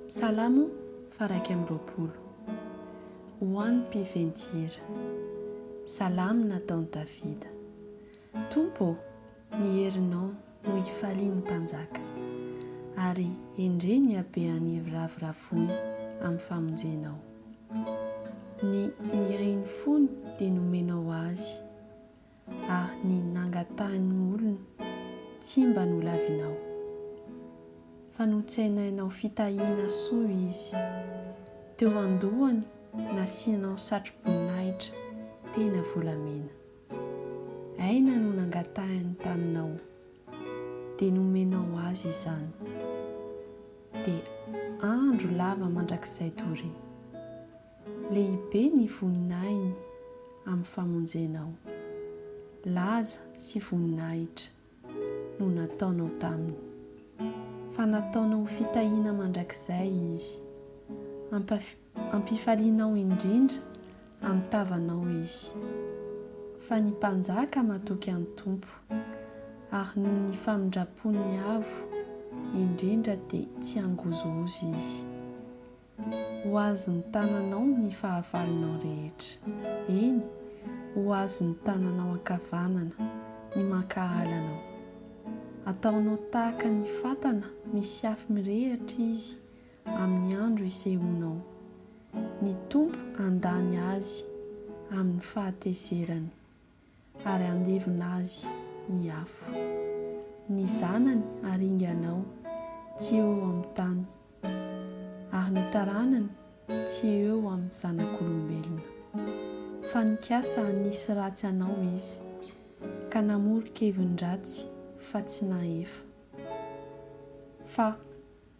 Salamo faha iraika amby roapolo. Ho an'ny mpiven-tihira. Salamo nataon'i Davida. Tompo ô, ny herinao no hifalian'ny mpanjaka, ary endrey ny habean'ny hiraviravony amin'ny famonjenao. Ny nirin'ny fony dia nomenao azy, Ary ny nangatahin'ny olona tsy mba nolavinao. Fa notsenainao fitahiana soa izy. Teo an-dohany nasianao satro-boninahitra tena volamena. Aina no nangatahiny taminao, dia nomenao azy izany. Dia andro lava mandrakizay doria. Lehibe ny voninahiny amin'ny famonjenao. Laza sy voninahitra no nataonao taminy. Fa nataonao ho fitahiana mandrakizay izy. Ampaf, ampifalianao indrindra amin'ny tavanao izy. Fa ny mpanjaka matoky an'ny Tompo, ary noho ny famindram-pony avo indrindra dia tsy hangozohozo izy. Ho azon'ny tananao ny fahavalonao rehetra, eny, ho azon'ny tananao ankavanana ny mankahala anao. Ataonao tahaka ny fatana misy afo mirehitra izy amin'ny andro isehoanao. Ny Tompo handany azy amin'ny fahatezerany ary handevina azy ny afo. Ny zanany haringanao tsy eo amin'ny tany, ary ny taranany tsy eo amin'ny zanak'olombelona. Fa nikasa hanisy ratsy anao izy, ka namoro-kevin-dratsy fa tsy nahefa. Fa